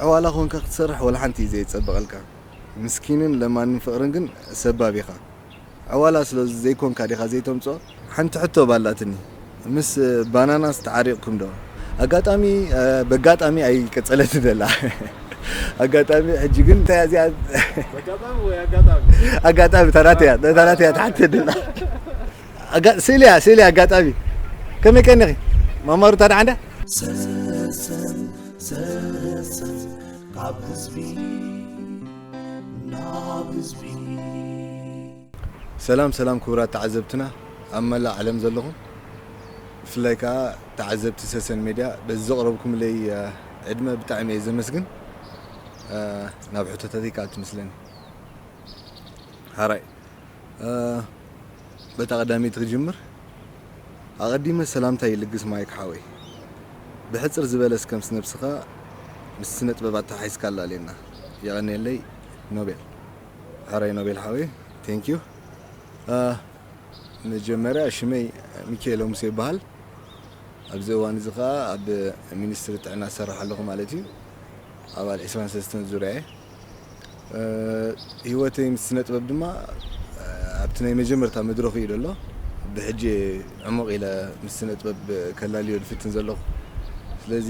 ዕዋላ ኮንካ ክትሰርሕ ወላሓንቲ እዩ ዘይጸበቀልካ ምስኪንን ለማንን ፍቅርን ግን ሰባብ ኢካ ዕዋላ ስለ ዘይኮንካ ዲካ ዘይተምጽኦ። ሓንቲ ሕቶ ኣላትኒ ምስ ባናናስ ተዓሪቅኩም ዶ ኣጋጣሚ በጋጣሚ ኣይ ቀጸለትን ዘላ ኣጋጣሚ ሕጂ ግን እንታይ እያ እዚኣ በጋጣሚ ወይ ኣጋጣሚ ኣጋጣሚ እታ ናተይ እያ እታ ናተይ እያ ትሓተኒ ዘላ። ኣጋ ስእሊ እያ ስእሊ ኣጋጣሚ ከመይ ቀኒኺ ማማ ሩታ ደሓን ድያ? ሰሰን ሰሰን ካብ ህዝቢ ናብ ህዝቢ ሰላም ሰላም ክቡራት ተዓዘብትና ኣብ መላእ ዓለም ዘለኹም ብፍላይ ከዓ ተዓዘብቲ ሰሰን ሜድያ በዚ ዘቕረብኩምለይ ዕድመ ብጣዕሚ እየ ዘመስግን ናብ ሕቶታተይ ክኣቱ ምስለኒ ሃራይ በታ ቀዳመይቲ ክጅምር ኣቐዲመ ሰላምታይ ይልግስ ማይክ ሓወይ ብሕጽር ዝበለ እስከ ምስ ነብስኻ ምስ ስነጥበብ ኣተሓሒዝካ ኣላልየና የቐንየለይ ኖቤል ሕራይ ኖቤል ሓወይ ቴንክ ዩ መጀመርያ ሽመይ ሚካኤሎ ሙሴ ይበሃል ኣብዚ እዋን እዚ ከኣ ኣብ ሚኒስትሪ ጥዕና ዝሰርሕ ኣለኹ ማለት እዩ ኣባል 23 ዙርያ እየ ሂወተይ ምስ ስነጥበብ ድማ ኣብቲ ናይ መጀመርታ መድረኹ እዩ ዘሎ ብሕጂ እየ ዕሙቕ ኢለ ምስ ስነጥበብ ከላልዮ ዝፍትን ዘለኹ ስለዚ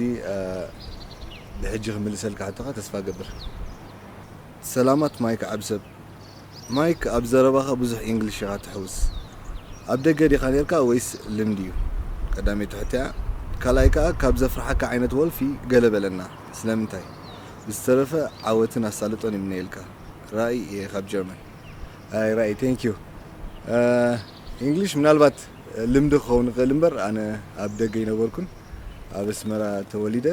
ብሕጂ ክምልሰልካ ሕቶኻ ተስፋ እገብር ሰላማት ማይክ ዓቢ ሰብ ማይክ ኣብ ዘረባኻ ብዙሕ ኢንግሊሽ ኢኻ ትሕውስ ኣብ ደገ ዲኻ ኔርካ ወይስ ልምዲ እዩ ቀዳመይቲ ሕቶያ ካልኣይ ከኣ ካብ ዘፍርሓካ ዓይነት ወልፊ ገለ በለና ስለምንታይ ብዝተረፈ ዓወትን ኣሳልጦን ይምነየልካ ራኢ እየ ካብ ጀርመን። ኣይ ራኢ thank you English ምናልባት ልምዲ ክኸውን ይኽእል እምበር ኣነ ኣብ ደገ ኣይነበርኩን ኣብ ኣስመራ ተወሊደ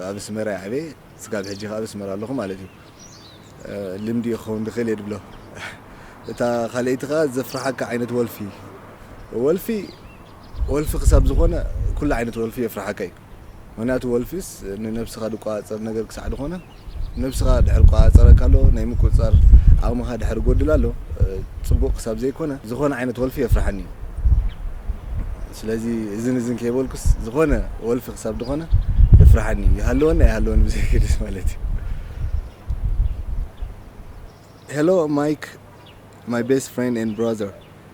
ኣብ ኣስመራ እየ ዓብየ ስጋብ ሕጂ ከኣ ኣብ ኣስመራ ኣለኹ ማለት እዩ ልምዲ እዩ ክኸውን ዝኽእል እየ ዝብሎ እታ ካልኣይቲ ከኣ ዘፍርሓካ ዓይነት ወልፊ ወልፊ ወልፊ ክሳብ ዝኾነ ኩሉ ዓይነት ወልፊ የፍርሓካ እዩ ምክንያቱ ወልፊስ ንነብስኻ ድቆጻጸር ነገር ክሳዕ ድኾነ ነብስኻ ድሕር ቆጻጸረካ ኣሎ ናይ ምቁጽጻር ዓቕምኻ ድሕር ጎድል ኣሎ ጽቡቕ ክሳብ ዘይኮነ ዝኾነ ዓይነት ወልፊ የፍርሓኒ እዩ ስለዚ እዝን እዝን ከይበልኩስ ዝኾነ ወልፊ ክሳብ ድኾነ የፍርሓኒ እዩ ይሃለወኒ ኣይሃለወኒ ብዘይገድስ ማለት እዩ Hello Mike my best friend and brother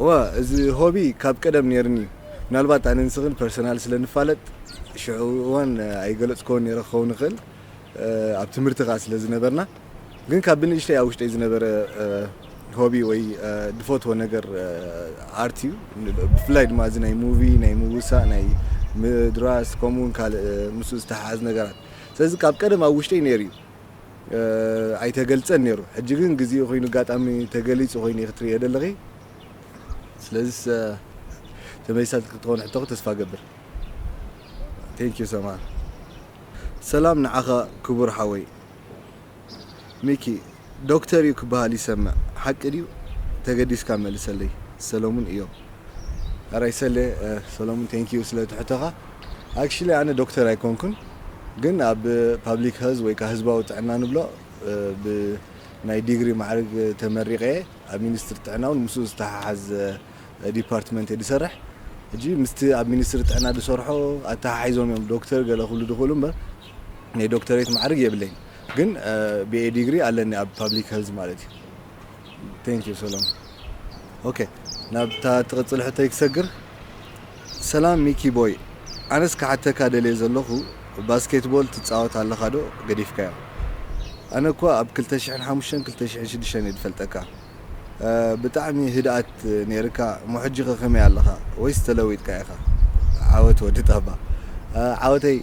እዋ እዚ ሆቢ ካብ ቀደም ኔርኒ እዩ ምናልባት ኣነ ንስኽን ፐርሰናል ስለ ንፋለጥ ሽዑ እዋን ኣይገለጽኮን ኔረ ክኸውን ይኽእል ኣብ ትምህርቲ ከኣ ስለ ዝነበርና ግን ካብ ብንእሽተይ ኣብ ውሽጠይ ዝነበረ ሆቢ ወይ ድፈትዎ ነገር ኣርት እዩ ብፍላይ ድማ እዚ ናይ ሙቪ ናይ ምውሳእ ናይ ምድራስ ከምኡውን ካልእ ምስ ዝተሓሓዝ ነገራት ስለዚ ካብ ቀደም ኣብ ውሽጠይ ነይሩ እዩ ኣይተገልጸን ኔሩ ሕጂ ግን ግዚኡ ኮይኑ ጋጣሚ ተገሊጹ ኮይኑ ኢኪ ትርእዮ ደለኪ ስለዚስ ተመሊሳትኪ ክትኮን ሕቶኪ ተስፋ ገብር Thank you ሰምሃር ሰላም ንዓኻ ክቡር ሓወይ ሚኪ ዶክተር እዩ ክበሃል ይሰምዕ ሓቂ ድዩ ተገዲስካ መልሰለይ ሰለሙን እዮብ። ኣራይ ሰሌ ሰሎሙን thank you ስለ እቲ ሕቶኻ። Actually ኣነ ዶክተር ኣይኮንኩን ግን ኣብ ፓብሊክ ሀልዝ ወይ ከኣ ህዝባዊ ጥዕና ንብሎ ብ ናይ ዲግሪ ማዕርግ ተመሪቀ እየ ኣብ ሚኒስትሪ ጥዕና ውን ምስኡ ዝተሓሓዝ ዲፓርትመንት እየ ዝሰርሕ ሕጂ ምስቲ ኣብ ሚኒስትሪ ጥዕና ዝሰርሖ ኣተሓሒዞም እዮም ዶክተር ገለ ክብሉ ዝኽእሉ እምበር ናይ ዶክተሬት ማዕርግ የብለይን ግን BA ዲግሪ ኣለኒ ኣብ ፓብሊክ ሀልዝ ማለት እዩ። Thank you ሰላም ኦኬ ናብታ ትቕጽል ሕቶይ ክሰግር ሰላም ሚኪ ቦይ ኣነስ ክሓተካ ደልየ ዘለኹ ባስኬትቦል ትጻወት ኣለኻ ዶ ገዲፍካዮ ኣነ እኳ ኣብ ክልተ ሽሕን ሓሙሽተን ክልተ ሽሕን ሽዱሽተን እየ ዝፈልጠካ ብጣዕሚ ህድኣት ነይርካ እሞ ሕጂ ከ ከመይ ኣለኻ ወይስ ተለዊጥካ ኢኻ ዓወት ወዲ ጣባ ዓወተይ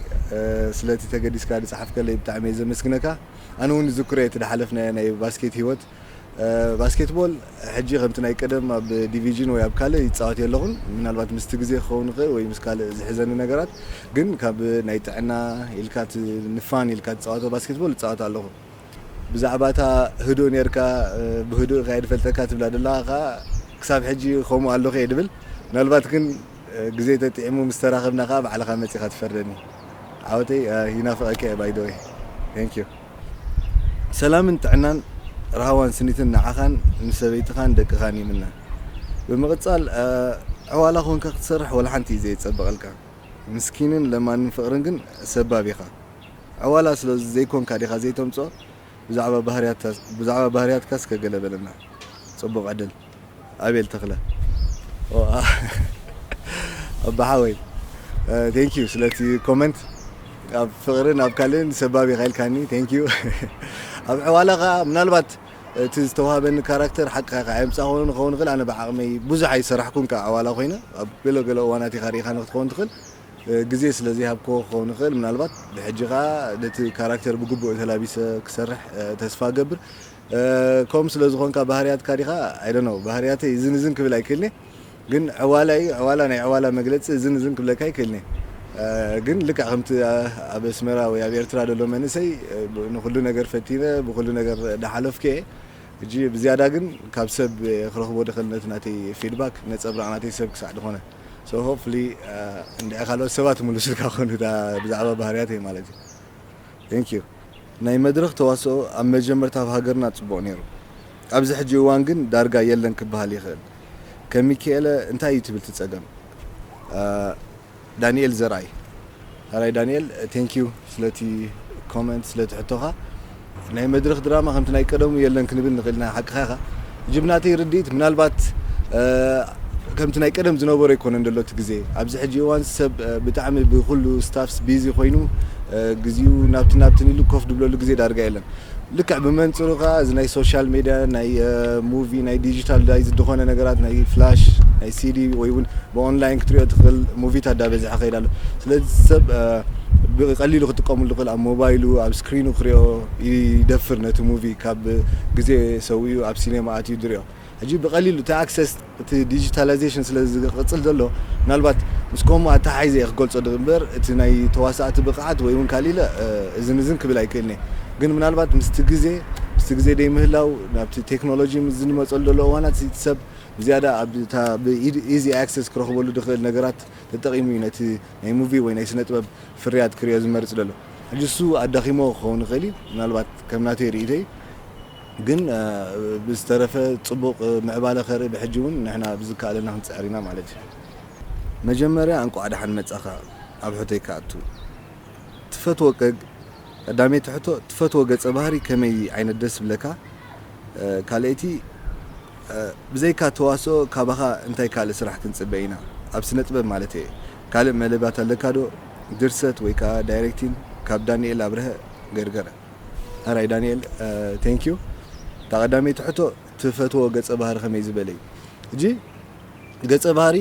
ስለቲ ተገዲስካ ዝጸሓፍከለይ ብጣዕሚ እየ ዘመስግነካ ኣነ ውን ይዝክሮ እየ እቲ ዝሓለፍናዮ ናይ ባስኬት ሂወት። ባስኬት ቦል ሕጂ ከምቲ ናይ ቀደም ኣብ ዲቪጅን ወይ ኣብ ካልእ ይጻወት የለኹን። ምናልባት ምስቲ ግዜ ክኸውን ይኽእል ወይ ምስ ካልእ ዝሕዘኒ ነገራት ግን ካብ ናይ ጥዕና ኢልካ እቲ ንፋን ኢልካ ትጻወቶ ባስኬት ቦል እጻወት ኣለኹ። ብዛዕባ እታ ህዱእ ኔርካ ብህዱእ ኢኻ እየ ዝፈልጠካ ትብላ ዘለኻ ከኣ ክሳብ ሕጂ ከምኡ ኣለኹ እየ ዝብል። ምናልባት ግን ግዜ ተጥዒሙ ምስ ተራኸብና ከኣ ባዕልኻ መጺኻ ትፈርደኒ። ዓወተይ ይናፍቀኪ እየ ባይ ዶወይ Thank you ሰላምን ጥዕናን ራህዋን ስኒትን ንዓኻን ምስ ሰበይትኻን ደቅኻን ይምነ ብምቅጻል ዕዋላ ኮንካ ክትሰርሕ ወላሓንቲ እዩ ዘይጸበቀልካ ምስኪንን ለማንን ፍቅርን ግን ሰባብ ኢኻ ዕዋላ ስለ ዘይኮንካ ዲኻ ዘይተምጽኦ ብዛዕባ ባህርያትካ ብዛዕባ ባህርያትካ እስከ ገለ በለና ጽቡቅ ዕድል ኣቤል ተኽለ ኦኣህ ኣባ ሓወይ ቴንክ ዩ ስለቲ ኮመንት ኣብ ፍቅርን ኣብ ካልእን ሰባብ ኢኻ ኢልካኒ ቴንክ ዩ ኣብ ዕዋላ ከኣ ምናልባት እቲ ዝተዋህበኒ ካራክተር ሓቅኻ ኢኻ ኣየምጻእኹን ክኸውን ይኽእል ኣነ ብዓቅመይ ብዙሕ ኣይሰራሕኩን ከኣ ዕዋላ ኮይነ ኣብ ገለ ገለ እዋናት ኢኻ ርኢኻ ንክትኸውን ትኽእል ግዜ ስለ ዘይሃብክዎ ክኸውን ይኽእል ምናልባት ብሕጂ ከኣ ነቲ ካራክተር ብግቡእ ተላቢሰ ክሰርሕ ተስፋ እገብር ከምኡ ስለ ዝኾንካ ባህርያትካ ዲኻ ኣይ ዶንት ኖው ባህርያተይ እዝን እዝን ክብል ኣይክእልን እየ ግን ዕዋላ እዩ ዕዋላ ናይ ዕዋላ መግለጺ እዝን እዝን ክብለካ ኣይክእልን እየ ግን ልክዕ ከምቲ ኣብ ኣስመራ ወይ ኣብ ኤርትራ ዘሎ መንእሰይ ንኹሉ ነገር ፈቲነ ብኹሉ ነገር ዳሓለፍኩ እየ እጂ ብዝያዳ ግን ካብ ሰብ ክረኽቦ ድኽእል ነቲ ናተይ ፊድባክ ነጸብራቕ ናተይ ሰብ ክሳዕ ድኾነ so hopefully እንድዒ ካልኦት ሰባት ክምልሱልካ ክኾኑ እታ ብዛዕባ ባህርያተይ ማለት እዩ thank you ናይ መድረኽ ተዋስኦ ኣብ መጀመርታ ኣብ ሃገርና ጽቡቕ ነይሩ ኣብዚ ሕጂ እዋን ግን ዳርጋ የለን ክበሃል ይኽእል ከም ሚኪኤለ እንታይ እዩ ትብል ትጸገም ዳኒኤል ዘርኣይ ሐራይ ዳኒኤል Thank you ስለቲ Comment ስለቲ ሕቶኻ ናይ መድረኽ ድራማ ከምቲ ናይ ቀደሙ የለን ክንብል ንኽእል ኢና ሓቅኻ ኢኻ ሕጂ ብናተይ ርድኢት ምናልባት ከምቲ ናይ ቀደም ዝነበሮ ኣይኮነን ዘሎ እቲ ግዜ ኣብዚ ሕጂ እዋን ሰብ ብጣዕሚ ብኹሉ Staffs Busy ኮይኑ ግዚኡ ናብትን ናብትን ኢሉ ኮፍ ድብለሉ ግዜ ዳርጋ የለን ልክዕ ብመንጽሩ ከኣ እዚ ናይ ሶሻል ሜድያ ናይ ሙቪ ናይ ዲጂታል ዳይ ዝድኾነ ነገራት ናይ ፍላሽ ናይ ሲዲ ወይ ውን ብኦንላይን ክትሪኦ ትኽእል ሙቪታት ዳበዝሐ ከይድ ኣሎ ስለዚ ሰብ ብቀሊሉ ክጥቀምሉ ዝኽእል ኣብ ሞባይሉ ኣብ ስክሪኑ ክሪኦ ይደፍር ነቲ ሙቪ ካብ ግዜ ሰዊኡ ኣብ ሲኔማ ኣትዩ ዝሪኦ ሕጂ ብቐሊሉ እቲ ኣክሰስ እቲ ዲጂታላይዜሽን ስለ ዝቕጽል ዘሎ ምናልባት ምስ ከምኡ ኣተሓሒዘ ኢየ ክገልጾ ድእምበር እቲ ናይ ተዋሳእቲ ብቕዓት ወይ ውን ካልእ ኢለ እዝን እዝን ክብል ኣይክእልን ኢየ ግን ምናልባት ምስቲ ግዜ ምስቲ ግዜ ደይምህላው ናብቲ ቴክኖሎጂ ምስ ዝንመጸሉ ዘሎ እዋናት እዚ እቲ ሰብ ብዝያዳ ኣብ እታ ብ easy access ክረኽበሉ ድኽእል ነገራት ተጠቒሙ ኢዩ ነቲ ናይ ሙቪ ወይ ናይ ስነጥበብ ፍርያት ክርእዮ ዝመርጽ ደሎ ሕጂ እሱ ኣዳኺምዎ ክኸውን ይኽእል ኢዩ ምናልባት ከም ናተይ ርእይቶ ኢዩ። ግን ብዝተረፈ ጽቡቅ ምዕባለ ከርኢ ብሕጂ ውን ንሕና ብዝከኣለና ክንጽዕር ኢና ማለት እዩ። መጀመርያ እንቋዕ ደሓን መጻኻ ኣብ ሕቶይ ክኣቱ ትፈትዎ ቀግ ቀዳመይቲ ሕቶ ትፈትዎ ገጸ ባህሪ ከመይ ዓይነት ደስ ዝብለካ ካልኣይቲ ብዘይካ ተዋስኦ ካባኻ እንታይ ካልእ ስራሕ ክንጽበ ኢና ኣብ ስነጥበብ ማለተየ ካልእ መደባት ኣለካዶ ድርሰት ወይ ከኣ ዳይረክቲን ካብ ዳኒኤል ኣብረሀ ገርገረ። ኣራይ ዳኒኤል thank you እታ ቀዳመይቲ ሕቶ ትፈትዎ ገጸ ባህሪ ከመይ ዝበለ እዩ እጂ ገጸ ባህሪ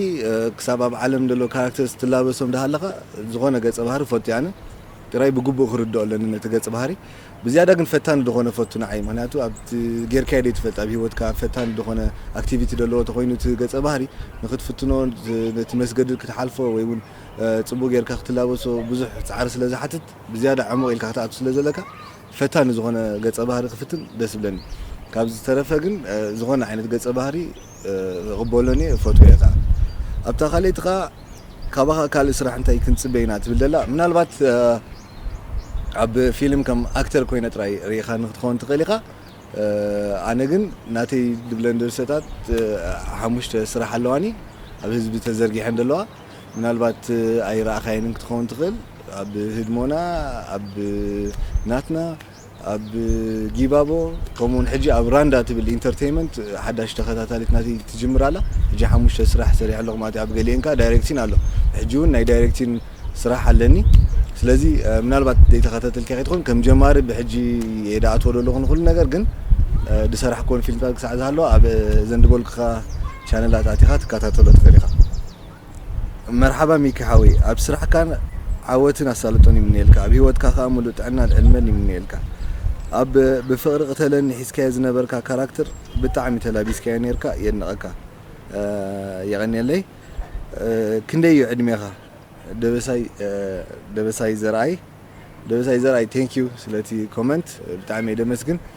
ክሳብ ኣብ ዓለም ዘሎ ካራክተርስ ትላበሶም ዳሃለኻ ዝኾነ ገጸ ባህሪ ፈቱ ኣነ ጥራይ ብግቡእ ክርድኦ ኣለኒ ነቲ ገጽ ባህሪ ብዝያዳ ግን ፈታኒ ዝኾነ ፈቱ ንዓይ ምክንያቱ ኣብቲ ጌርካዮ ዘይትፈልጥ ኣብ ሂወትካ ፈታኒ ዝኾነ ኣክቲቪቲ ዘለዎ ተኮይኑ እቲ ገጸ ባህሪ ንክትፍትኖ ነቲ መስገድል ክትሓልፎ ወይ እውን ጽቡቅ ጌርካ ክትላበሶ ብዙሕ ጻዕሪ ስለ ዝሓትት ብዝያዳ ዕሙቕ ኢልካ ክትኣቱ ስለ ዘለካ ፈታኒ ዝኾነ ገጸ ባህሪ ክፍትን ደስ ይብለኒ ካብዚ ዝተረፈ ግን ዝኾነ ዓይነት ገጸ ባህሪ እቕበሎን እየ እፈትዎ'የ ከኣ ኣብታ ካልኣይቲ ከኣ ካባኻ ካልእ ስራሕ እንታይ ክንጽበ ኢና ትብል ዘላ ምናልባት ኣብ ፊልም ከም ኣክተር ኮይነ ጥራይ ርኢኻኒ ክትኸውን ትኽእል ኢኻ ኣነ ግን ናተይ ድብለን ድርሰታት ሓሙሽተ ስራሕ ኣለዋኒ ኣብ ህዝቢ ተዘርጊሐን ዘለዋ ምናልባት ኣይረኣኻየንን ክትኸውን ትኽእል ኣብ ህድሞና ኣብ ናትና ኣብ ጊባቦ ከምኡውን ሕጂ ኣብ ራንዳ ትብል ኢንተርቴይመንት ሓዳሽ ተኸታታሊት ናቲ ትጅምር ኣላ ሕጂ ሓሙሽተ ስራሕ ሰሪሐ ኣለኹ ማለት ኣብ ገሊኤን ከዓ ዳይሬክቲን ኣሎ ሕጂ እውን ናይ ዳይሬክቲን ስራሕ ኣለኒ ስለዚ ምናልባት ዘይተኸታተልካ ከይትኾን ከም ጀማሪ ብሕጂ እየ ዳኣትዎ ዘለኹ ንኹሉ ነገር ግን ዝሰራሕክወን ፊልምታት ክሳዕ ዝሃለዋ ኣብ ዘንድበልኩኻ ቻነላት ኣቲኻ ትካታተሎ ትኽእል ኢኻ። መርሓባ ሚኪ ሓወይ ኣብ ስራሕካ ዓወትን ኣሳልጦን ይምነየልካ ኣብ ሂወትካ ከኣ ምሉእ ጥዕናን ዕድመን ይምነየልካ። ኣብ ብፍቅሪ ቅተለኒ ሒዝካዮ ዝነበርካ ካራክትር ብጣዕሚ ተላቢስካዮ ኔርካ የድንቀካ። የቀንየለይ። ክንደይ እዩ ዕድሜኻ? ደበሳይ ደበሳይ ዘርኣይ ደበሳይ ዘርኣይ thank you ስለቲ comment ብጣዕሚ እየ ደመስግን።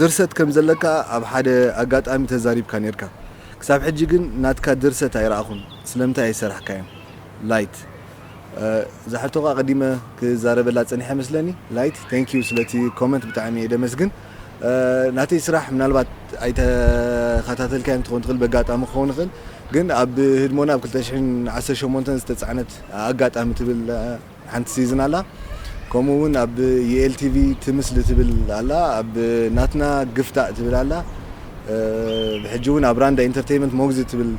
ድርሰት ከም ዘለካ ኣብ ሓደ ኣጋጣሚ ተዛሪብካ ኔርካ ክሳብ ሕጂ ግን ናትካ ድርሰት ኣይረኣኹን ስለምንታይ ኣይሰራሕካዮን Light እዛ ሕቶ ከኣ ቀዲመ ክዛረበላ ጸኒሐ መስለኒ Light Thank you ስለቲ ኮመንት ብጣዕሚ እየ ደመስግን ናተይ ስራሕ ምናልባት ኣይተኸታተልካዮን ክትኾን ትኽእል በጋጣሚ ክኸውን ይኽእል ግን ኣብ ህድሞና ኣብ ክልተ ሽሕን ዓሰርተ ሸሞንተን ዝተጻዕነት ኣጋጣሚ ትብል ሓንቲ ሲዝን ኣላ ከምኡ ውን ኣብ ዩኤል ቲቪ ትምስሊ ትብል ኣላ ኣብ ናትና ግፍታእ ትብል ኣላ ሕጂ ውን ኣብ ራንዳ ኢንተርተይመንት ሞግዚት ትብል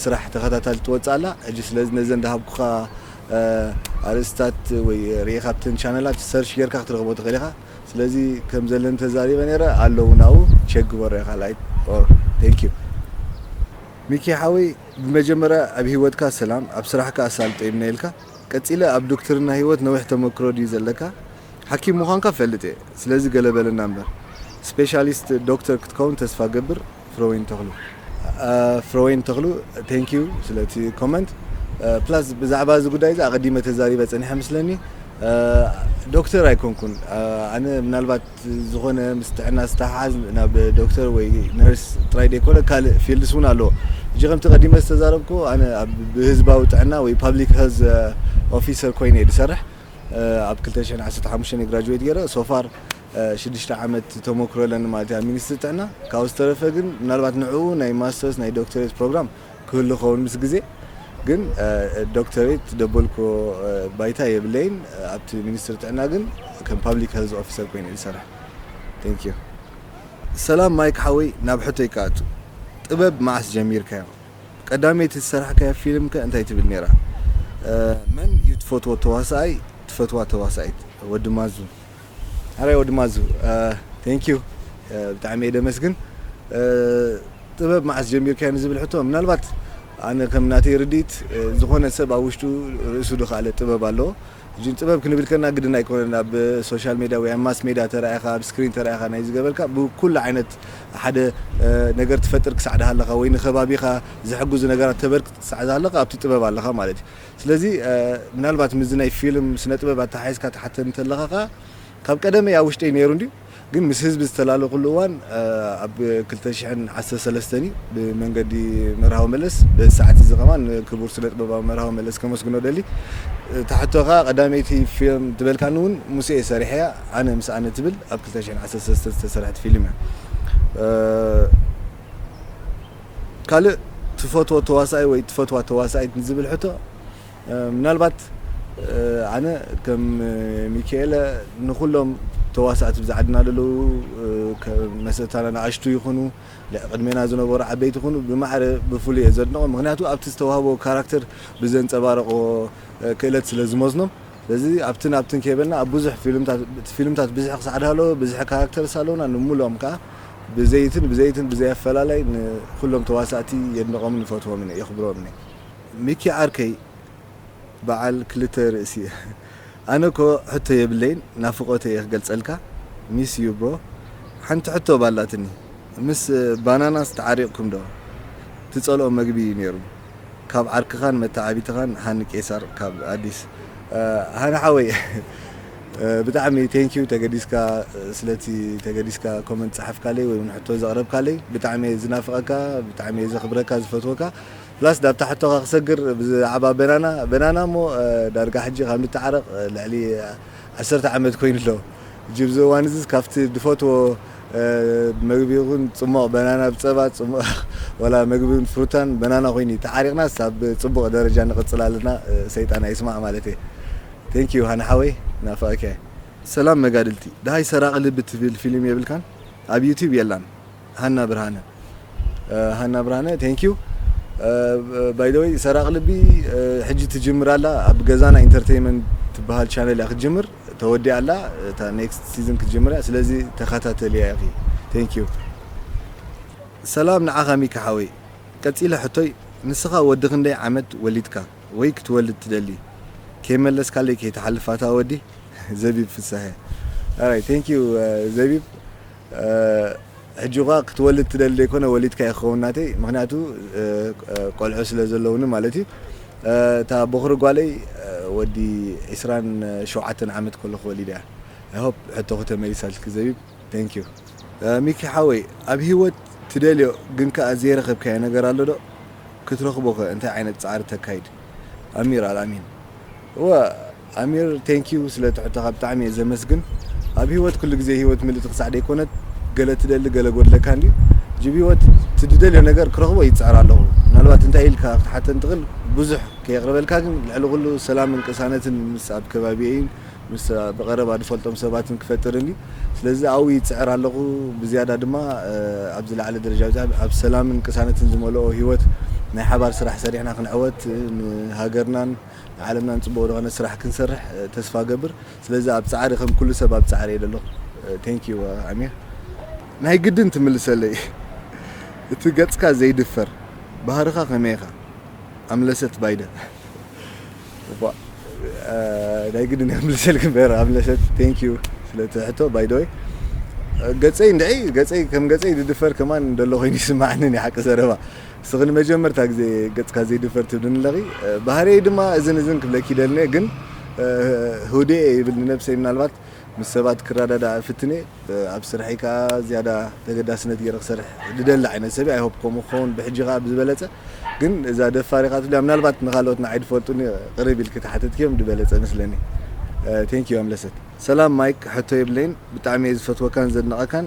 ስራሕ ተኸታታሊት ትወጽእ ኣላ ሕጂ ስለዚ ነዘን ዝሃብኩኻ ኣርእስታት ወይ ርኢኻ ኣብተን ቻነላት ሰርች ጌርካ ክትረኽቦ ትኽእል ኢኻ ስለዚ ከም ዘለኒ ተዛሪበ ነይረ ኣሎ ውን ኣብኡ ቸክ ግበሮ ኢኻ ላይክ ኦር ቴንክ ዩ ሚኪ ሓወይ ብመጀመርያ ኣብ ሂወትካ ሰላም ኣብ ስራሕካ ኣሳልጦ ይምነየልካ። ቀጺለ ኣብ ዱክትርና ሂወት ነዊሕ ተመክሮ ድዩ ዘለካ ሓኪም ምዃንካ እፈልጥ እየ ስለዚ ገለ በለና እምበር ስፔሻሊስት ዶክተር ክትከውን ተስፋ ገብር ፍረወይኒ ተኽሉ። ፍረወይኒ ተኽሉ thank you ስለቲ ኮመንት ፕላስ ብዛዕባ እዚ ጉዳይ እዚ ኣቐዲመ ተዛሪበ ጸኒሐ ምስለኒ ዶክተር ኣይኮንኩን ኣነ ምናልባት ዝኾነ ምስ ጥዕና ዝተሓሓዝ ናብ ዶክተር ወይ ነርስ ጥራይ ዘይኮነ ካልእ ፊልድስ እውን ኣሎ። ሕጂ ከምቲ ቀዲመ ዝተዛረብኩ ኣነ ብህዝባዊ ጥዕና ወይ ፓብሊክ ሄልዝ ኦፊሰር ኮይነ እየ ዝሰርሕ። ኣብ ክልተ ሽሕን ዓሰርተ ሓሙሽተን እየ ግራጁዌት ገይረ። ሶፋር ሽዱሽተ ዓመት ተሞክሮ ኣለኒ ማለት እዩ ኣብ ሚኒስትሪ ጥዕና። ካብኡ ዝተረፈ ግን ምናልባት ንዕኡ ናይ ማስተርስ ናይ ዶክተሬት ፕሮግራም ክህሉ ይኸውን ምስ ግዜ ግን ዶክተሬት ደበልኩ ባይታ የብለይን ኣብቲ ሚኒስትሪ ጥዕና ግን ከም ፓብሊክ ሄልዝ ኦፊሰር ኮይነ ዝሰርሕ Thank you። ሰላም ማይክ ሓወይ ናብ ሕቶይ ክኣቱ ጥበብ መዓስ ጀሚርካዮ ቀዳመይቲ ዝሰራሕካያ ፊልም ከ እንታይ ትብል ኔራ መን ዩ ትፈትዎ ተዋሳኣይ ትፈትዋ ተዋሳኢት ወዲ ማዙ ሐራይ ወዲ ማዙ Thank you ብጣዕሚ እየ ደመስግን ጥበብ መዓስ ጀሚርካዮ ንዝብል ሕቶ ምናልባት ኣነ ከም ናተይ ርድኢት ዝኾነ ሰብ ኣብ ውሽጡ ርእሱ ድኻለ ጥበብ ኣለዎ እጅን ጥበብ ክንብል ከና ግድን ኣይኮነን ኣብ ሶሻል ሜድያ ወይ ኣብ ማስ ሜድያ ተራኢኻ ኣብ ስክሪን ተራኢኻ ናይ ዝገበርካ ብኩሉ ዓይነት ሓደ ነገር ትፈጥር ክሳዕ ድሃለኻ ወይ ንከባቢኻ ዝሕግዙ ነገራት ተበርክት ክሳዕ ዝሃለኻ ኣብቲ ጥበብ ኣለኻ ማለት እዩ ስለዚ ምናልባት ምስዚ ናይ ፊልም ስነ ጥበብ ኣተሓሒዝካ ትሓተኒ ተለኻ ከኣ ካብ ቀደመይ ኣብ ውሽጠይ ነይሩ እንድዩ ግን ምስ ህዝቢ ዝተላለኹሉ እዋን ኣብ ክልተ ሽሕን ዓሰርተ ሰለስተን እዩ ብመንገዲ መርሃዊ መለስ በዚ ሰዓት እዚ ከማን ንክቡር ስነ ጥበባዊ መርሃዊ መለስ ከመስግኖ ደሊ እታ ሕቶ ከኣ ቀዳመይቲ ፊልም ትበልካኒ እውን ምስ እየ ሰሪሐያ ኣነ ምስ ኣነ ትብል ኣብ ክልተ ሽሕን ዓሰርተ ሰለስተን ዝተሰርሐት ፊልም እያ ካልእ ትፈትዎ ተዋሳኣይ ወይ ትፈትዋ ተዋሳኢት ንዝብል ሕቶ ምናልባት ኣነ ከም ሚኪኤለ ንኹሎም ተዋሳእቲ ብዛ ዓድና ዘለዉ መሰታና ንኣሽቱ ይኹኑ ቅድሜና ዝነበሩ ዓበይቲ ይኹኑ ብማዕረ ብፍሉይ እየ ዘድንቖም ምክንያቱ ኣብቲ ዝተዋህቦ ካራክተር ብዘንፀባረቕዎ ክእለት ስለ ዝመዝኖም ስለዚ ኣብትን ኣብትን ከይበልና ኣብ ብዙሕ ፊልምታት እቲ ፊልምታት ብዝሒ ክሳዕ ድሃለወ ብዝሒ ካራክተርስ ኣለዉና ንምሉኦም ከኣ ብዘይትን ብዘይትን ብዘይ ኣፈላላይ ንኩሎም ተዋሳእቲ የድንቖምን ይፈትዎምን እየ የኽብሮምን እየ። ሚኪ ዓርከይ በዓል ክልተ ርእሲ እየ ኣነ እኮ ሕቶ የብለይን ናፍቆተይ እየ ክገልጸልካ ሚስ ዩ ብሮ ሓንቲ ሕቶ ባላትኒ ምስ ባናናስ ተዓሪቅኩም ዶ ትጸልኦ መግቢ ዩ ኔሩ ካብ ዓርክኻን መተዓቢትኻን ሃኒ ቄሳር ካብ ኣዲስ። ሃኒ ሓወይ ብጣዕሚ thank you ተገዲስካ ስለቲ ተገዲስካ comment ዝጸሓፍካለይ ወይ ውን ሕቶ ዘቕረብካለይ ብጣዕሚ እየ ዝናፍቐካ ብጣዕሚ እየ ዘኽብረካ ዝፈትወካ plus ዳብታ ሕቶኻ ክሰግር ብዛዕባ በናና በናና እሞ ዳርጋ ሕጂ ካብ ንተዓረቕ ልዕሊ ዓሰርተ ዓመት ኮይኑ ኣሎ ሕጂ ኣብዚ እዋን እዚስ ካብቲ ድፈትዎ መግቢ ይኹን ጽሟቕ በናና ብ ጸባ ጽሟቕ ወላ መግቢ ን ፍሩታን በናና ኮይኑ እዩ ተዓሪቕናስ ኣብ ጽቡቕ ደረጃ ንቕጽል ኣለና ሰይጣን ኣይስማዕ ማለት እየ Thank you ሃኒ ሓወይ ናፍቐካየ። ሰላም መጋድልቲ ደሃይ ሰራቂ ልቢ ትብል ፊሊም የብልካን ኣብ ዩቱብ የላን ሃና ብርሃነ ሃና ብርሃነ thank you by the way ሰራቂ ልቢ ሕጂ ትጅምር ኣላ ኣብ ገዛና ኢንተርተይመንት ትበሃል ቻነል እያ ክትጅምር ተወዲኣ ኣላ እታ ኔክስት ሲዝን ክትጅምር እያ ስለዚ ተኸታተልያ ኢኺ thank you ሰላም ንዓኻ ሚኪ ሓወይ ቀጺለ ሕቶይ ንስኻ ወዲ ክንደይ ዓመት ወሊድካ ወይ ክትወልድ ትደሊ ከይመለስካለይ ከይትሓልፍ ኣታ ወዲ ዘቢብ ፍሳሀ ኣራይ thank you ዘቢብ ሕጂ እዃ ክትወልድ ትደሊ ደይኮነ ወሊድካ እዩ ክኸውን ናተይ ምኽንያቱ ቆልዑ ስለ ዘለውኒ ማለት እዩ እታ ቦኽሪ ጓለይ ወዲ ዕስራን ሸውዓተን ዓመት ከለኹ ወሊደ እያ i hope ሕቶኺ ተመሊሳትልኪ ዘቢብ thank you። ሚኪ ሓወይ ኣብ ሂወት ትደልዮ ግን ከኣ ዘይረኸብካዮ ነገር ኣሎ ዶ ክትረኽቦ ከ እንታይ ዓይነት ጻዕሪ ተካይድ ኣሚር ኣልኣሚን እወ ኣሚር thank you ስለ ትሕቶኻ ብጣዕሚ እየ ዘመስግን ኣብ ሂወት ኩሉ ግዜ ሂወት ምልእቲ ክሳዕ ደይኮነት ገለ ትደሊ ገለ ጎድለካ እንድዩ ጅብ ሂወት እቲ ድደልዮ ነገር ክረኽቦ ይጽዕር ኣለኹ ምናልባት እንታይ ኢልካ ክትሓተኒ ትኽል ብዙሕ ከየቅርበልካ ግን ልዕሊ ኩሉ ሰላምን ቅሳነትን ምስ ኣብ ከባቢየይን ምስ ብቀረባ ድፈልጦም ሰባትን ክፈጥር እንድዩ ስለዚ ኣብኡ ይጽዕር ኣለኹ ብዝያዳ ድማ ኣብ ዝለዓለ ደረጃ በጺሐ ኣብ ሰላምን ቅሳነትን ዝመልኦ ሂወት ናይ ሓባር ስራሕ ሰሪሕና ክንዕወት ንሃገርናን ንዓለምና ንጽቡቅ ዝኮነ ስራሕ ክንሰርሕ ተስፋ እገብር ስለዚ ኣብ ጻዕሪ ከም ኩሉ ሰብ ኣብ ጻዕሪ እየ ዘለኩ Thank you ኣሚር ናይ ግድን ትምልሰለይ እቲ ገጽካ ዘይድፈር ባህርካ ከመይ ኢካ ኣምለሰት ባይደ እባ ናይ ግድን እየ ክምልሰልኪ እምበር ኣምለሰት Thank you ስለቲ ሕቶ by the way ገጸይ እንድዒ ገጸይ ከም ገጸይ ዝድፈር ከማን ደሎ ኮይኑ ይስመዓኒ ናይ ሓቂ ዘረባ። ንስኺ ንመጀመርታ ግዜ ገጽካ ዘይድፈር ትብልኒ ኣለኺ ባህርየይ ድማ እዝን እዝን ክብለኪ ይደልን እየ ግን ህውድኤ ይብል ንነብሰይ ምናልባት ምስ ሰባት ክረዳዳእ እፍትን እየ ኣብ ስርሐይ ከኣ ዝያዳ ተገዳስነት ገይረ ክሰርሕ ዝደሊ ዓይነት ሰብ እየ ኣይ ሆፕ ከምኡ ክኸውን ብሕጂ ከኣ ብዝበለጸ ግን እዛ ደፋር ኢኻ ትብልያ ምናልባት ንኻልኦት ንዓይ ድፈልጡኒ ቅርብ ኢልኪ ተሓተትክዮም ድበለጸ መስለኒ ቴንክ ዩ ኣምለሰት። ሰላም ማይክ ሕቶ የብለይን ብጣዕሚ እየ ዝፈትወካን ዘድንቀካን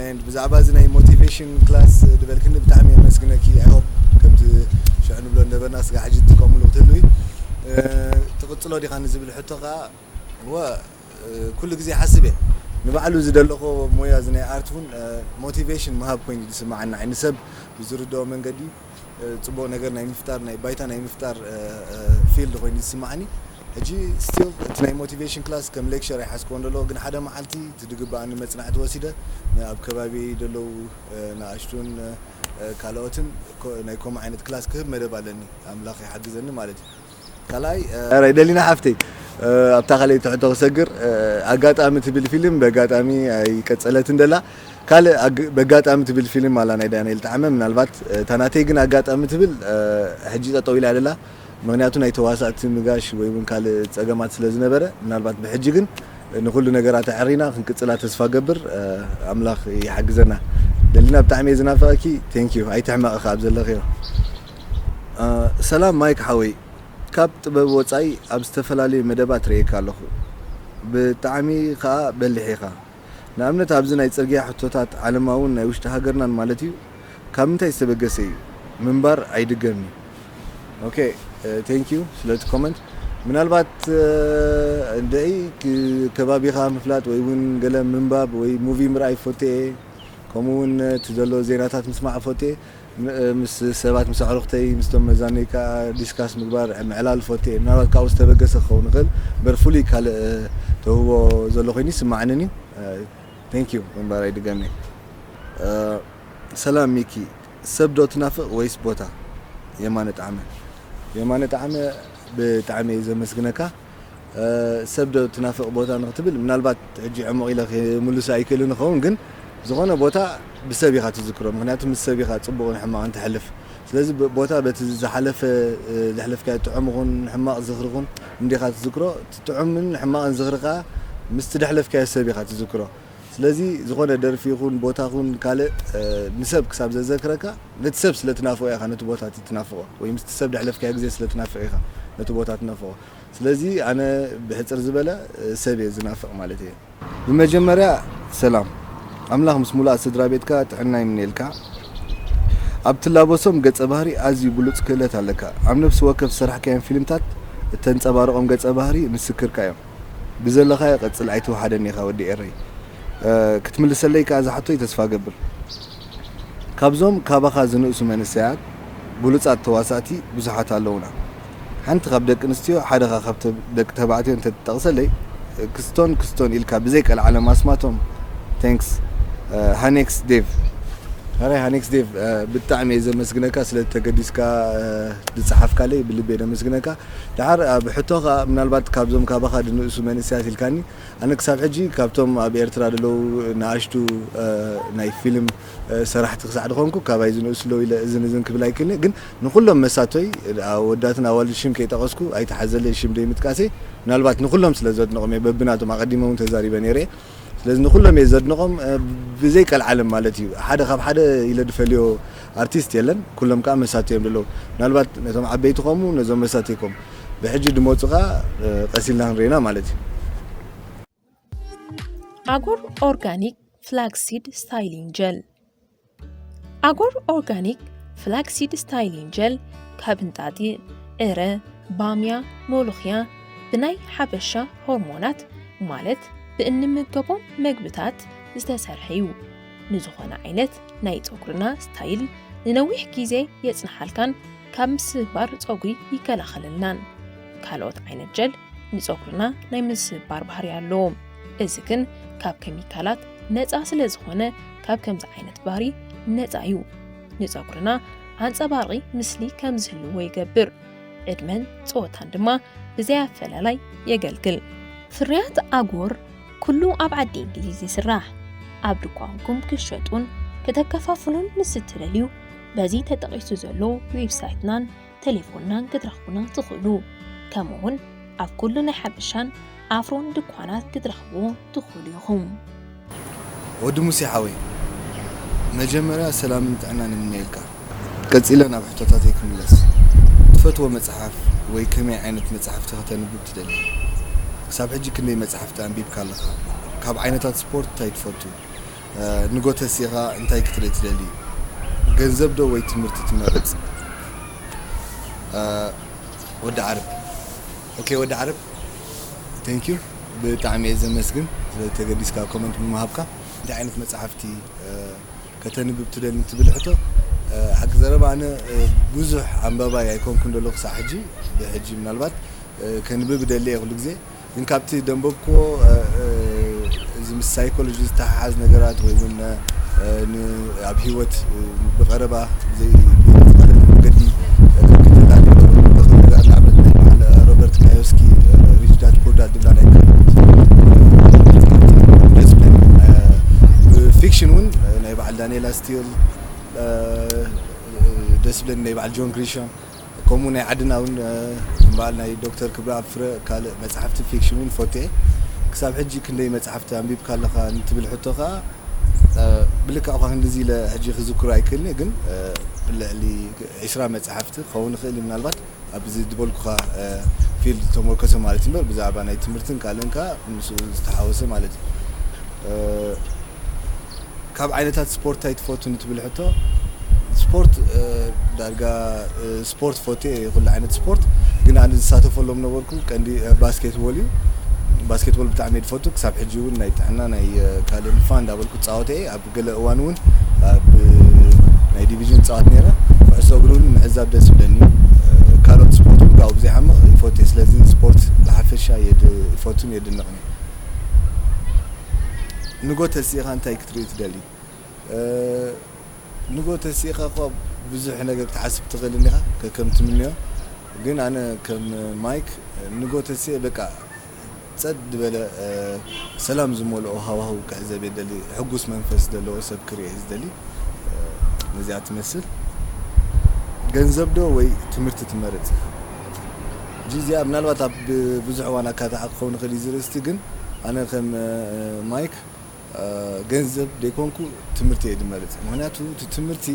and ብዛዕባ እዚ ናይ ሞቲቬሽን ክላስ ዝበልክኒ ብጣዕሚ የመስግነኪ ኣይ ሆፕ ከምቲ ሽዑ ንብሎ ነበርና ስጋ ሕጂ ትጥቀምሉ ክትህልዊ ትቕጽሎ ዲኻ ንዝብል ሕቶ ከዓ እወ ኩሉ ግዜ ሓስብ እየ ንባዕሉ እዚ ዘለኹ ሞያ እዚ ናይ ኣርት እውን ሞቲቬሽን ምሃብ ኮይኑ ዝስማዓና ንሰብ ብዝርድኦ መንገዲ ጽቡቅ ነገር ናይ ምፍጣር ናይ ባይታ ናይ ምፍጣር ፊልድ ኮይኑ ዝስማዓኒ ሕጂ ስቲል እቲ ናይ ሞቲቬሽን ክላስ ከም ሌክቸር ኣይሓዝክዎን ደሎ ግን ሓደ መዓልቲ እቲ ድግባኣኒ መጽናዕቲ ወሲደ ንኣብ ከባቢየይ ደለዉ ንኣሽቱን ካልኦትን ናይ ኮምኡ ዓይነት ክላስ ክህብ መደብ ኣለኒ ኣምላኽ ይሓግዘኒ ማለት እዩ። ካልኣይ ዳርይ ደሊና ሓፍተይ ኣብታ ካልኣይቲ ሕቶ ክሰግር ኣጋጣሚ ትብል ፊልም በጋጣሚ ኣይቀጸለትን ደላ ካልእ በጋጣሚ ትብል ፊልም ኣላ ናይ ዳንኤል ጠዓመ ምናልባት እታ ናተይ ግን ኣጋጣሚ ትብል ሕጂ ጠጠው ኢላ ደላ ምክንያቱ ናይ ተዋሳእቲ ምጋሽ ወይ ውን ካልእ ጸገማት ስለ ዝነበረ ምናልባት ብሕጂ ግን ንኩሉ ነገራት ኣዐሪና ክንቅጽላ ተስፋ ገብር ኣምላክ ይሓግዘና ደሊና ብጣዕሚ እየ ዝናፍቀኪ Thank you ኣይትሕመቂ ከኣ ኣብ ዘለክዮ። ሰላም ማይክ ሓወይ ካብ ጥበብ ወጻኢ ኣብ ዝተፈላለዩ መደባት ርእየካ ኣለኹ ብጣዕሚ ከኣ በሊሕ ኢኻ ንኣብነት ኣብዚ ናይ ጽርግያ ሕቶታት ዓለማውን ናይ ውሽጢ ሃገርናን ማለት እዩ ካብ ምንታይ ዝተበገሰ እዩ ምንባር ኣይድገም እዩ ኦኬ ቴንክ ዩ ስለቲ ኮመንት ምናልባት እንደይ ከባቢኻ ምፍላጥ ወይ እውን ገለ ምንባብ ወይ ሙቪ ምርኣይ ፎቴ ከምኡ እውን እቲ ዘሎ ዜናታት ምስማዕ ፎቴ ምስ ሰባት ምስ ኣዕሩኽተይ ምስቶም መዛኑይ ከኣ ዲስካስ ምግባር ምዕላል እፈቱ'የ። ምናልባት ካብኡ ዝተበገሰ ክኸውን ይኽእል እምበር ፍሉይ ካልእ ተውህቦ ዘሎ ኮይኑ ኣይስመዓንን እዩ። Thank you ምንባረይ ድገሜ። ሰላም ሚኪ ሰብ ዶ ትናፍቅ ወይስ ቦታ? የማነ ጠዓመ። የማነ ጠዓመ ብጣዕሚ እየ ዘመስግነካ። ሰብ ዶ ትናፍቅ ቦታ ንክትብል ምናልባት ሕጂ ዕሙቅ ኢለ ክምልሶ ኣይክእልን እከውን ግን ዝኮነ ቦታ ብሰብ ኢካ ትዝክሮ ምክንያቱ ምስ ሰብ ኢካ ጽቡቅን ሕማቅን ተሕልፍ ስለዚ ቦታ በቲ ዝሓለፈ ዘሕለፍካዮ ጥዑም ይኩን ሕማቅ ዝክሪ ይኩን እንዲካ ትዝክሮ እቲ ጥዑምን ሕማቅን ዝክሪ ከኣ ምስቲ ደሕለፍካዮ ሰብ ኢካ ትዝክሮ ስለዚ ዝኾነ ደርፊ ይኹን ቦታ ይኹን ካልእ ንሰብ ክሳብ ዘዘክረካ ነቲ ሰብ ስለ ትናፍቖ ኢኻ ነቲ ቦታ እቲ ትናፍቖ ወይ ምስቲ ሰብ ዘሕለፍካዮ ግዜ ስለ ትናፍቕ ኢኻ ነቲ ቦታ ትነፍቖ ስለዚ ኣነ ብሕጽር ዝበለ ሰብ እየ ዝናፍቕ ማለት እየ። ብመጀመርያ ሰላም ኣምላኽ ምስ ሙሉኣት ስድራቤትካ ጥዕና ይምነየልካ ኣብ ትላበሶም ገጸ ባህሪ ኣዝዩ ብሉጽ ክእለት ኣለካ ኣብ ነብሲ ወከፍ ዝሰራሕካዮም ፊልምታት እተንጸባርቖም ገጸ ባህሪ ምስክርካ እዮም። ብዘለካዮ ቀጽል ኣይትውሓደኒ ኢካ ወዲ ኤረይ ክትምልሰለይ ከኣ ዝሓቶይ ተስፋ እገብር ካብዞም ካባካ ዝንእሱ መንሰያት ብሉጻት ተዋሳእቲ ብዙሓት ኣለውና ሓንቲ ካብ ደቂ ኣንስትዮ ሓደካ ካብ ደቂ ተባዕትዮ እንተ ትጠቅሰለይ ክስቶን ክስቶን ኢልካ ብዘይ ቀልዓለም ኣስማቶም Thanks ሃኔክስ ዴቭ። ሐራይ ሃኔክስ ዴቭ ብጣዕሚ እየ ዘመስግነካ ስለ ተገዲስካ ዝጸሓፍካለይ ብልቢ እየ ዘመስግነካ ደሓር ኣብ ሕቶ ከኣ ምናልባት ካብዞም ካባኻ ድንእሱ መንእሰያት ኢልካኒ ኣነ ክሳብ ሕጂ ካብቶም ኣብ ኤርትራ ደለዉ ነኣሽቱ ናይ ፊልም ሰራሕቲ ክሳዕ ድኾንኩ ካባይ ዝንእሱ ኣለዉ ኢለ እዝን እዝን ክብል ኣይክእልን'የ ግን ንኹሎም መሳቶይ ኣወዳትን ኣዋልድ ሽም ከይጠቐስኩ ኣይትሓዘለይ ሽም ደይምጥቃሰይ ምናልባት ንኹሎም ስለ ዘድንቖም'የ በብናቶም ኣቐዲመ ውን ተዛሪበ ነይረ'የ ስለዚ ንኩሎም እየ ዘድንቆም ብዘይ ቀልዓለም ማለት እዩ ሓደ ካብ ሓደ ኢለ ድፈልዮ ኣርቲስት የለን ኩሎም ከዓ መሳቲ እዮም ደለው ምናልባት ነቶም ዓበይቲ ኮሙ ነዞም መሳቲ ኮም ብሕጂ ድመፁ ከዓ ቀሲልና ክንሪኢና ማለት እዩ ኣጎር ኦርጋኒክ ፍላክሲድ ስታይሊንግ ጀል ኣጎር ኦርጋኒክ ፍላክሲድ ስታይሊን ጀል ካብ እንጣጢዕ፣ ዕረ፣ ባምያ፣ ሞሎኽያ ብናይ ሓበሻ ሆርሞናት ማለት ብእንምገቦም መግብታት ዝተሰርሐ እዩ። ንዝኾነ ዓይነት ናይ ፀጉርና ስታይል ንነዊሕ ግዜ የፅንሓልካን ካብ ምስባር ፀጉሪ ይከላኸለልናን። ካልኦት ዓይነት ጀል ንፀጉርና ናይ ምስባር ባህሪ ኣለዎም። እዚ ግን ካብ ኬሚካላት ነፃ ስለ ዝኾነ ካብ ከምዚ ዓይነት ባህሪ ነፃ እዩ። ንፀጉርና ኣንፀባራቒ ምስሊ ከም ዝህልዎ ይገብር፣ ዕድመን ፀወታን ድማ ብዘይ ኣፈላላይ የገልግል። ፍርያት ኣጎር ኩሉ ኣብ ዓዲ እንግሊዝ ይስራሕ። ኣብ ድኳንኩም ክትሸጡን ክተከፋፍሉን ምስ እትደልዩ በዚ ተጠቒሱ ዘሎ ዌብሳይትናን ተሌፎንናን ክትረኽቡና ትኽእሉ። ከምኡውን ኣብ ኩሉ ናይ ሓበሻን ኣፍሮን ድኳናት ክትረኽብዎ ትኽእሉ ኢኹም። ወዲ ሙሴ ሓወይ መጀመርያ ሰላምን ጥዕናን ይምነየልካ ቀጺለ ናብ ሕቶታተይ ክምለስ ትፈትዎ መጽሓፍ ወይ ከመይ ዓይነት መጽሓፍቲ ከተንብብ ትደሊ ክሳብ ሕጂ ክንደይ መጽሓፍቲ ኣንቢብካ ኣለኻ ካብ ዓይነታት ስፖርት ታይ ትፈቱ ንጎ ተሲእኻ እንታይ ክትርኢ ትደሊ? ገንዘብ ዶ ወይ ትምህርቲ ትመርጽ? ወዲ ዓረብ ኦኬ ወዲ ዓረብ Thank you ብጣዕሚ እየ ዘመስግን ስለዚ ተገዲስካ ኮመንት ብምሃብካ። እንታይ ዓይነት መጻሕፍቲ ከተንብብ ትደሊ ንትብል ሕቶ ሓቂ ዘረባ ኣነ ብዙሕ ኣንባባይ ኣይኮንኩን ዘለኹ ክሳዕ ሕጂ ብሕጂ ምናልባት ከንብብ እደሊ እየ ኩሉ ግዜ። ግን ካብቲ ደንበብክዎ እዚ ምስ ሳይኮሎጂ ዝተሓሓዝ ነገራት ወይ እውን ን ኣብ ሂወት ብቐረባ ብዝኾነ መንገዲ ከከታተሎ ዝኽእል ነገር ኣሎ። ንኣብነት ናይ በዓል ሮበርት ካዮስኪ ሪች ዳድ ፑር ዳድ ዝብላ ናይ ብፊክሽን እውን ናይ በዓል ዳንኤላ ስቲል ደስ ዝብለኒ ናይ በዓል ጆን ግሪሻም ከምኡ ናይ ዓድና ውን ከም በዓል ናይ ዶክተር ክብረኣብ ፍረ ካልእ መጻሕፍቲ ፊክሽን ውን ፈቱ'የ። ክሳብ ሕጂ ክንደይ መጻሕፍቲ ኣንቢብካ ኣለኻ ንትብል ሕቶ ከኣ ብልክዕ እኳ ክንድዚ ኢለ ሕጂ ክዝክሮ ኣይክእልን'የ ግን ልዕሊ ዕስራ መጻሕፍቲ ክኸውን ይኽእል'ዩ ምናልባት ኣብዚ ዝበልኩኻ ፊልድ ዝተሞርከሰ ማለት'ዩ እምበር ብዛዕባ ናይ ትምህርትን ካልእን ከኣ ምስኡ ዝተሓወሰ ማለት'ዩ። ካብ ዓይነታት ስፖርት ታይ ትፈቱ ንትብል ሕቶ ስፖርት ዳርጋ ስፖርት ፎቴ እየ ኩሉ ዓይነት ስፖርት ግን ኣነ ዝሳተፈሎም ነበርኩ ቀንዲ ባስኬት ቦል እዩ ባስኬት ቦል ብጣዕሚ እየ ዝፈቱ ክሳብ ሕጂ እውን ናይ ጥዕና ናይ ካልእ ንፋ እንዳበልኩ ፃወተ እየ ኣብ ገለ እዋን እውን ኣብ ናይ ዲቪዥን ፃወት ነይረ ኩዕሶ እግሪ እውን ምዕዛብ ደስ ይብለኒ እዩ ካልኦት ስፖርት እውን ካብኡ ብዘይዓምቕ ይፈቱ እየ ስለዚ ስፖርት ብሓፈሻ ይፈቱን የድንቕን እየ ንጎ ተሲእኻ እንታይ ክትርኢ ትደሊ? ንጎ ተሲእኻ እኳ ብዙሕ ነገር ክትሓስብ ትኽእል እንዲኻ ከከም ትምንዮ ግን ኣነ ከም ማይክ ንጎ ተሲኤ በቃ ጸጥ ድበለ ሰላም ዝመልኦ ሃዋህው ክዕዘብ እየ ዝደሊ ሕጉስ መንፈስ ዘለዎ ሰብ ክርኢ እየ ዝደሊ ነዚኣ ትመስል። ገንዘብ ዶ ወይ ትምህርቲ ትመርጽ? ሕጂ እዚኣ ምናልባት ኣብ ብዙሕ እዋን ኣካታዒ ክኸውን ይኽእል እዩ እዚ ርእስቲ ግን ኣነ ከም ማይክ ገንዘብ ደይኮንኩ ትምህርቲ እየ ድመርጽ ምኽንያቱ እቲ ትምህርቲ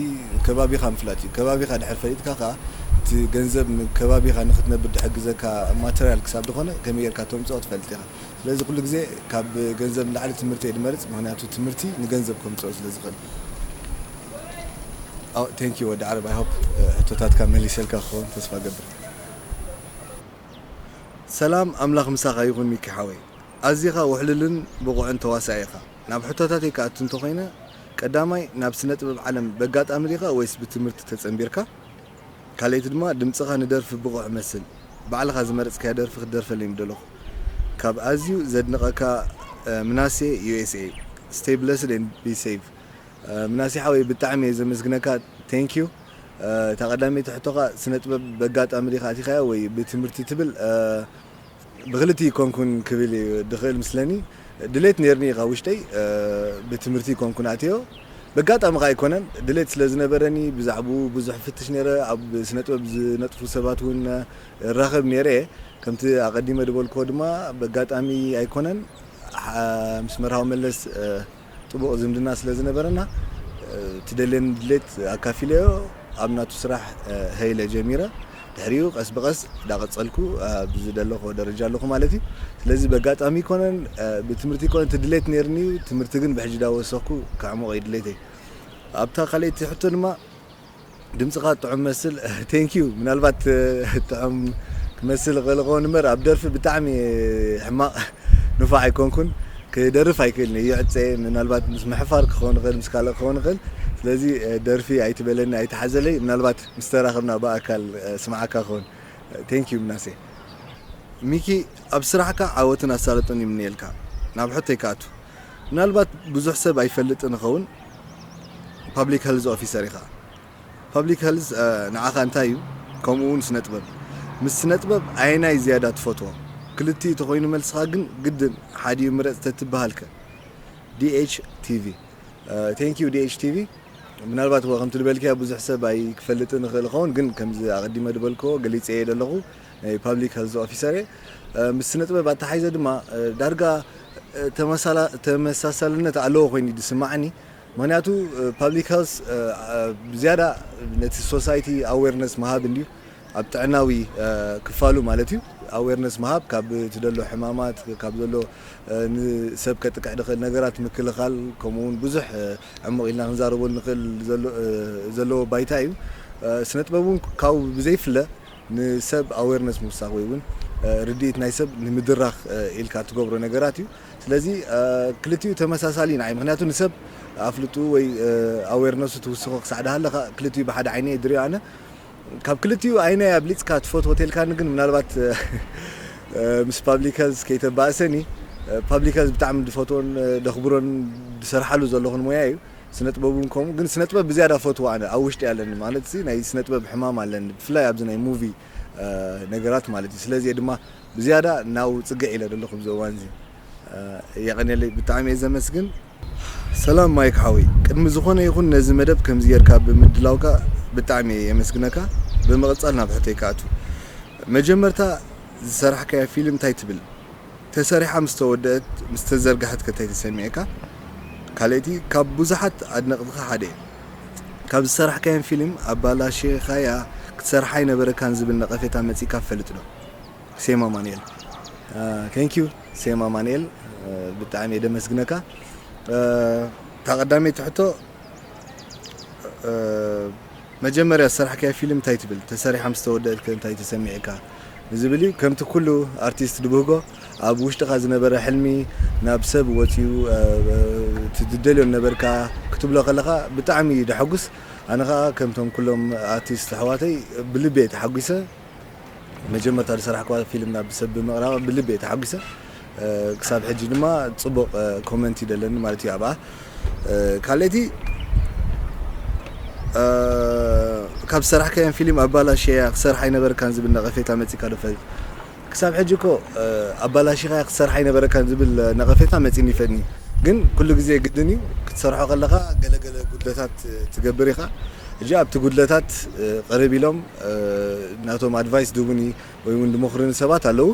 ከባቢኻ ምፍላጥ እዩ ከባቢኻ ድሕር ፈሊጥካ ከኣ እቲ ገንዘብ ንከባቢኻ ንኽትነብር ድሕግዘካ ማተርያል ክሳብ ድኾነ ከመይ ጌርካ ተምጽኦ ትፈልጥ ኢኻ ስለዚ ኩሉ ግዜ ካብ ገንዘብ ንላዕሊ ትምህርቲ እየ ድመርጽ ምኽንያቱ ትምህርቲ ንገንዘብ ከምጽኦ ስለ ዝኽእል Thank you ወዲ ዓረብ i hope ሕቶታትካ መሊሰልካ ክኸውን ተስፋ እገብር። ሰላም ኣምላኽ ምሳኻ ይኹን ሚኪ ሓወይ ኣዚኻ ውሕሉልን ብቑዕን ተዋሳኢ ኢኻ ናብ ሕቶታተይ ክኣቱ እንተ ኮይነ ቀዳማይ ናብ ስነ ጥበብ ዓለም በጋጣሚ ዲኻ ወይስ ብትምህርቲ ተጸንቢርካ ካልኣይቲ ድማ ድምጽኻ ንደርፊ ብቑዕ እመስል ባዕልኻ ዝመረጽካያ ደርፊ ክትደርፈለይ ምደለኹ ካብ ኣዝዩ ዘድንቐካ ምናሴ USA Stay blessed and be safe ምናሴ ሓወይ ብጣዕሚ እየ ዘመስግነካ Thank you። እታ ቀዳመይቲ ሕቶኻ ስነ ጥበብ በጋጣሚ ዲኻ ኣቲኻዮ ወይ ብትምህርቲ ትብል ብክልቲኡ ኣይኮንኩን ክብል ድኽእል ምስለኒ ድሌት ኔርኒ ካብ ውሽጠይ ብትምህርቲ ኣይኮንኩን ኣትዮ በጋጣሚ ከኣ ኣይኮነን ድሌት ስለ ዝነበረኒ ብዛዕብኡ ብዙሕ እፍትሽ ኔረ ኣብ ስነ ጥበብ ዝነጥፉ ሰባት እውን እራኸብ ኔረ ከምቲ ኣቐዲመ ድበልክዎ ድማ በጋጣሚ ኣይኮነን ምስ መርሃዊ መለስ ጥቡቕ ዝምድና ስለ ዝነበረና ትደልየኒ ድሌት ኣካፊለዮ ኣብ ናቱ ስራሕ ሀይ ኢለ ጀሚረ ድሕሪኡ ቀስ ብቀስ ዳቀጸልኩ ኣብ ዝደለኹዎ ደረጃ ኣለኹ ማለት እዩ ስለዚ በጋጣሚ ኣይኮነን ብትምህርቲ ኣይኮነን እቲ ድሌት ነይርኒ እዩ ትምህርቲ ግን ብሕጂ ዳወሰኽኩ ከዕሙቕ እዩ ድሌተይ ኣብታ ካልኣይቲ ሕቶ ድማ ድምጽኻ ጥዑም መስል thank you ምናልባት ጥዑም ክመስል ይኽእል ይኸውን እምበር ኣብ ደርፊ ብጣዕሚ ሕማቕ ንፋዕ ኣይኮንኩን ክደርፍ ኣይክእልን እየ ይዕፀ ምናልባት ምስ ምሕፋር ክኸውን ይኽእል ምስ ካልእ ክኸውን ይኽእል ስለዚ ደርፊ ኣይትበለኒ ኣይትሓዘለይ ምናልባት ምስ ተራኽብና ብኣካል ስምዓካ ክኸውን thank you ምናሴ ሚኪ ኣብ ስራሕካ ዓወትን ኣሳልጦን ይምነየልካ ናብ ሕቶይ ክኣቱ ምናልባት ብዙሕ ሰብ ኣይፈልጥን ይኸውን ፓብሊክ ሀልዝ ኦፊሰር ኢኻ ፓብሊክ ሀልዝ ንዓኻ እንታይ እዩ ከምኡ ውን ስነጥበብ ምስ ስነጥበብ ኣየናይ ዝያዳ ትፈትዎ ክልቲኡ ተኾይኑ መልስኻ ግን ግድን ሓዲኡ ምረጽ ተትብሃል ከ DH TV ቴንክ ዩ DH TV ምናልባት እወ ከምቲ ዝበልክያ ብዙሕ ሰብ ኣይክፈልጥን ይኽእል ይኸውን ግን ከምዚ ኣቐዲመ ዝበልክዎ ገሊጸ እየ ዘለኹ ናይ ፓብሊክ ሀልዝ ኦፊሰር እየ። ምስ ስነ ጥበብ ኣተሓሒዘ ድማ ዳርጋ ተመሳሳልነት ኣለዎ ኮይኑ እዩ ዝስማዓኒ። ምክንያቱ ፓብሊክ ሀልዝ ብዝያዳ ነቲ ሶሳይቲ ኣዌርነስ ምሃብ እንድዩ፣ ኣብ ጥዕናዊ ክፋሉ ማለት እዩ ኣዌርነስ ምሃብ ካብ እቲ ዘሎ ሕማማት ካብ ዘሎ ንሰብ ከጥቅዕ ዝኽእል ነገራት ምክልኻል ከምኡ እውን ብዙሕ ዕሙቕ ኢልና ክንዛረበሉ ንኽእል ዘለዎ ባይታ እዩ። ስነ ጥበብ እውን ካብኡ ብዘይፍለ ንሰብ ኣዌርነስ ምውሳኽ ወይ ውን ርድኢት ናይ ሰብ ንምድራኽ ኢልካ እትገብሮ ነገራት እዩ። ስለዚ ክልቲኡ ተመሳሳሊ እዩ ንዓይ ምክንያቱ ንሰብ ኣፍልጥኡ ወይ ኣዌርነሱ ትውስኾ ክሳዕ ድሃለኻ ክልቲኡ ብሓደ ዓይነ እየ ድሪኦ ኣነ ካብ ክልቲኡ ኣይናይ ኣብሊጽካ ትፈትዎ ተልካኒ ግን ምናልባት ምስ ፓብሊክ ሄልዝ ከይተባእሰኒ ፓብሊክ ሄልዝ ብጣዕሚ ድፈትዎን ደኽብሮን ድሰርሓሉ ዘለኹን ሞያ እዩ። ስነጥበብ ውን ከምኡ ግን ስነጥበብ ብዝያዳ ፈትዎ ኣነ ኣብ ውሽጢ ኣለኒ ማለት ሲ ናይ ስነጥበብ ሕማም ኣለኒ ብፍላይ ኣብዚ ናይ ሙቪ ነገራት ማለት እዩ ስለዚ እየ ድማ ብዝያዳ ናብኡ ጽግዕ ኢለ ዘለኹ ኣብዚ እዋን እዚ የቐኔለይ ብጣዕሚ እየ ዘመስግን ሰላም ማይክ ሓወይ ቅድሚ ዝኾነ ይኹን ነዚ መደብ ከምዚ ጌርካ ብምድላውካ ብጣዕሚ እየ የመስግነካ ብምቕጻል ናብ ሕቶይ ክኣቱ መጀመርታ ዝሰራሕካያ ፊልም እንታይ ትብል ተሰሪሓ ምስ ተወደእት ምስ ተዘርገሐት ከ ታይ ተሰሚዑካ ካልእቲ ካብ ቡዙሓት ኣድነቅትካ ሓደ እየ ካብ ዝሰራሕካየን ፊሊም ኣባላሺካያ ክትሰርሓ ኣይነበረካን ዝብል ነቀፌታ መጺካ ትፈልጥ ዶ ሴም ኣማኒኤል Thank you ሴም ኣማኒኤል ብጣዕሚ እየ ደመስግነካ እታ ቀዳመይቲ ሕቶ መጀመርያ ዝሰራሕካዮ ፊልም እንታይ ትብል ተሰሪሓ ምስ ተወደእት ከ እንታይ ተሰሚዕካ ንዝብል እዩ ከምቲ ኩሉ ኣርቲስት ድብህጎ ኣብ ውሽጥካ ዝነበረ ሕልሚ ናብ ሰብ ወጽዩ እቲ ትደልዮ ዝነበርካ ክትብሎ ከለካ ብጣዕሚ እዩ ደሐጉስ ኣነ ከኣ ከምቶም ኩሎም ኣርቲስት ኣሕዋተይ ብልቢ እየ ተሓጒሰ መጀመርታ ዝሰራሕክዋ ፊልም ናብ ሰብ ብምቕራባ ብልቢ እየ ተሓጒሰ። ክሳብ ሕጂ ድማ ጽቡቕ ኮመንት እዩ ደለኒ ማለት እዩ ኣብኣ። ካልኣይቲ ካብ ዝሰራሕካየን ፊልም ኣባላሽያ ክሰርሕ ኣይነበረካን ዝብል ነቐፌታ መጺካ ዶ ይፈልጥ? ክሳብ ሕጂ እኮ ኣባላሺኻያ ክትሰርሕ ኣይነበረካን ዝብል ነቐፌታ መጺኒ ይፈጥኒ ግን ኩሉ ግዜ ግድን እዩ ክትሰርሖ ከለኻ ገለ ገለ ጉድለታት ትገብር ኢኻ። ሕጂ ኣብቲ ጉድለታት ቅርብ ኢሎም ናቶም ኣድቫይስ ዝህቡኒ ወይ ውን ዝመኽሩኒ ሰባት ኣለዉ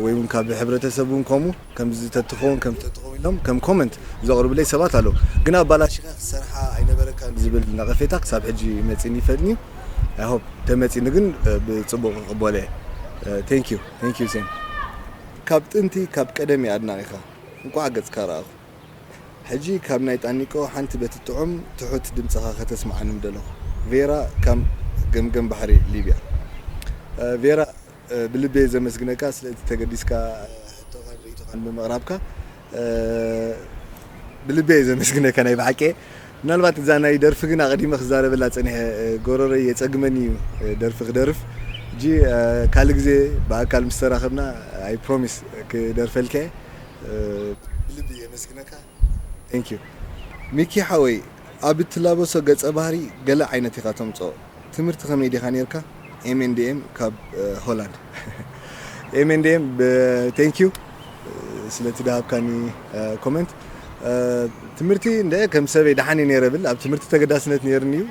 ወይ ውን ካብ ሕብረተሰብ ውን ከምኡ ከምዚ ተትኸውን ከምዚ ተትኸውን ኢሎም ከም ኮመንት ዘቕርቡለይ ሰባት ኣለዉ ግን ኣባላሺኻ ክትሰርሓ ኣይነበረካን ዝብል ነቐፌታ ክሳብ ሕጂ መጺኒ ይፈልጥንዩ ኣይ ሆፕ ተመጺኒ ግን ብጽቡቕ ክቕበሎ እየ ቴንኪዩ ቴንኪዩ ሴም ካብ ጥንቲ ካብ ቀደም እየ ኣድናቒኻ እንቋዕ ገጽካ ረኣኹ። ሕጂ ካብ ናይ ጣኒቆ ሓንቲ በቲ ጥዑም ትሑት ድምጽኻ ከተስምዓኒ ምደለኹ ቬራ ካም ገምገም ባሕሪ ሊብያ ቬራ ብልቢየ ዘመስግነካ ስለ እቲ ተገዲስካ ሕቶኻን ርእይቶኻን ብምቕራብካ ብልቢየ ዘመስግነካ ናይ ብሓቂየ ምናልባት እዛ ናይ ደርፊ ግን ኣቕዲመ ክዛረበላ ጸኒሐ ጎሮሮይ የጸግመኒ እዩ ደርፊ ክደርፍ ሕጂ ካልእ ግዜ ብኣካል ምስ ተራኸብና ኣይ ፕሮሚስ ክደርፈልካየ ብልቢ የመስግነካ Thank you ሚኪ ሓወይ ኣብ እትላበሶ ገጸ ባህሪ ገለ ዓይነት ኢኻ ተምጽኦ ትምህርቲ ከመይ ዲኻ ኔርካ MNDM ካብ ሆላንድ MNDM Thank you ስለቲ ድሃብካኒ ኮመንት ትምህርቲ እንደ ከም ሰበይ ደሓን እየ ኔረ ብል ኣብ ትምህርቲ ተገዳስነት ኔርኒ እዩ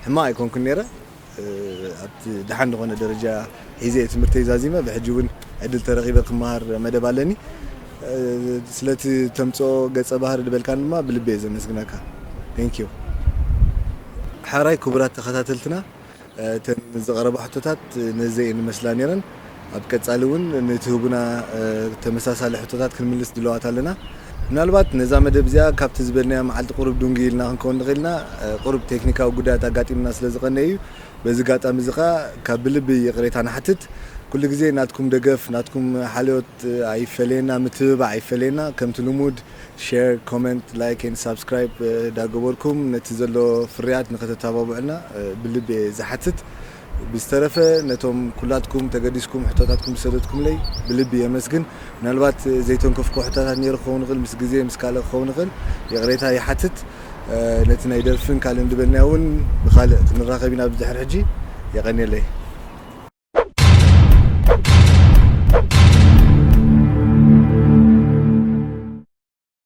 ሕማቕ ኣይኮንኩን ኔረ ኣብቲ ደሓን ዝኾነ ደረጃ ሒዘ'የ ትምህርተይ ዛዚመ፣ ብሕጂ ውን ዕድል ተረኺበ ክመሃር መደብ ኣለኒ። ስለቲ ተምጽኦ ገጸ ባህሪ ዝበልካኒ ድማ ብልቢ'የ ዘመስግነካ። Thank you። ሐራይ ክቡራት ተኸታተልትና እተን ዝቐረባ ሕቶታት ነዘ እየን ዝመስላ ኔረን። ኣብ ቀፃሊ እውን ንእትህቡና ተመሳሳሊ ሕቶታት ክንምልስ ድልዋት ኣለና። ምናልባት ነዛ መደብ እዚኣ ካብቲ ዝበልናዮ መዓልቲ ቁሩብ ዱንጊ ኢልና ክንከውን ንኽእል ኢና፣ ቁሩብ ቴክኒካዊ ጉዳያት ኣጋጢሙና ስለ ዝቐነየ እዩ። በዚ ኣጋጣሚ እዚ ከኣ ካብ ብልቢ ይቕሬታ ንሓትት። ኩሉ ግዜ ናትኩም ደገፍ፣ ናትኩም ሓልዮት ኣይፈለየና፣ ምትብባዕ ኣይፈለየና። ከምቲ ልሙድ ሼር፣ ኮመንት፣ ላይክ ኤንድ ሳብስክራይብ እንዳገበርኩም ነቲ ዘሎ ፍርያት ንኽተተባብዑልና ብልቢ እየ ዝሓትት። ብዝተረፈ ነቶም ኩላትኩም ተገዲስኩም ሕቶታትኩም ዝሰደድኩምለይ ብልቢ የመስግን። ምናልባት ዘይተንከፍኩዎ ሕቶታት ነይሩ ክኸውን ይኽእል፣ ምስ ግዜ ምስ ካልእ ክኸውን ይኽእል ይቕሬታ ይሓትት። ነቲ ናይ ደርፍን ካልእን ዝበልናዮ እውን ብኻልእ ክንራኸብ ኢና ብድሕሪ ሕጂ። የቐንየለይ።